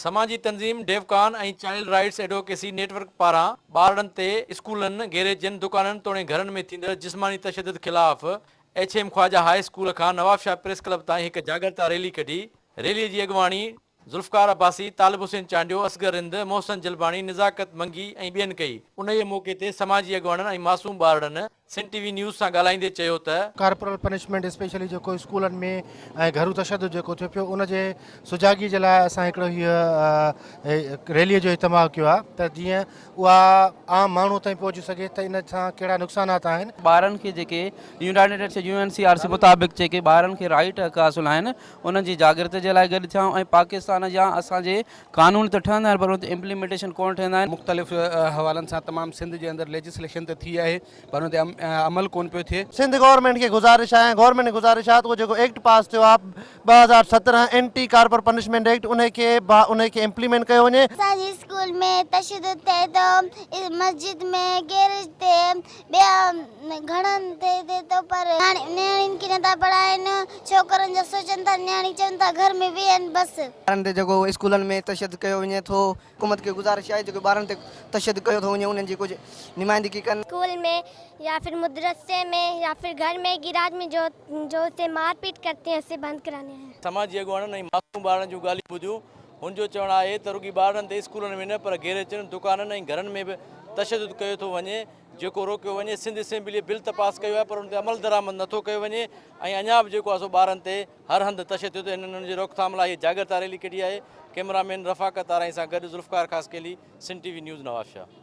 سماجي تنظيم ڊيوڪان ۽ child rights advocacy network پاران ٻارڙن تي اسڪولن، گيريجن، دڪانن توڻي گهرن ۾ ٿيندڙ جسماني تشدد خلاف H M Khwaja high school کان نوابشاهه پريس ڪلب تائين هڪ جاڳرتا ريلي ڪڍي، ريلي جي اڳواڻي ذوالفقار عباسي، طالب حسين چانڊيو، اصغر رند، محسن جلباڻي، نزاڪت منگي ۽ ٻين ڪئي. انهيء موقعي تي سماجي اڳواڻن ۽ معصوم ٻارڙن سنڌ ٽي وي نيوز سان ڳالهائيندي چيو ته. ڪارپورل پنشمينٽ اسپيشلي جيڪو اسڪولن ۾ ۽ گهرو تشدد جيڪو ٿيو پيو ان جي سجاڳي جي لاء اسان هڪڙو هي ريلي جو اهتماع ڪيو آهي ته جيئن اها عام ماڻهو تائين پهچي سگهي ته ان سان ڪهڙا نقصانات آهن. ٻارن کي جيڪي United Nations U N C R C مطابق جيڪي ٻارن کي رائيٽ حق حاصل آهن انهن جي جاڳرت جي لاء گڏ ٿيا ۽ پاڪستان جا اسان جي قانون ته ٺهندا آهن پر ان تي امپليمينٽيشن ڪونه ٺهندا آهن. مختلف حوالن سان تمام سنڌ جي اندر ليجسليشن ته ٿي آهي پر ان تي عمل ڪونه پيو ٿئي. سنڌ گورنمينٽ کي گذارش آهي ۽ گورنمينٽ کي گذارش آهي ته اهو جيڪو ايڪٽ پاس ٿيو آهي ٻه هزار سترهن اينٽي ڪارپر پنشمينٽ ايڪٽ انهي کي انهي کي امپليمينٽ ڪيو وڃي. اسان جي اسڪول ۾ تشدد ٿئي ٿو، مسجد ۾ گيريج تي ٻيا گهڻن تي ٿئي ٿو پر نياڻين کي نٿا پڙهائين ڇوڪرن جو سوچن ٿا نياڻي چون ٿا گهر ۾ ويهن بس. ٻارن تي جيڪو اسڪولن ۾ تشدد ڪيو وڃي ٿو حڪومت کي گذارش آهي جيڪو ٻارن تي تشدد ڪيو ٿو وڃي انهن جي ڪجهه نمائندگي ڪن. اسڪول ۾ يا ڦر مدرسي ۾ يا ڦر گهر ۾ گيراج ۾ جو جو اسي مارپيٽ ڪرتي اسي بند ڪراني هي. سماجي اڳواڻن ۽ معصوم ٻارڙن جون ڳالهيون ٻڌيون هن جو چوڻ آهي ته رڳي ٻارڙن تي اسڪولن ۾ نه پر گيريچن، دڪانن ۽ گهرن ۾ به تشدد ڪيو ٿو وڃي، جيڪو روڪيو وڃي، سنڌ اسيمبليء بل ته پاس ڪيو آهي پر ان تي عملدرآمد نه ٿو ڪيو وڃي ۽ اڃا به جيڪو آهي سو ٻارن تي هر هنڌ تشدد ۽ ان جي روڪٿام لاء هيء جاڳرتا ريلي ڪڍي آهي، ڪئميرا مين رفاقت آرائين سان گڏ Zulfiqar Khaskheli, Sindh T V news Nawabshah.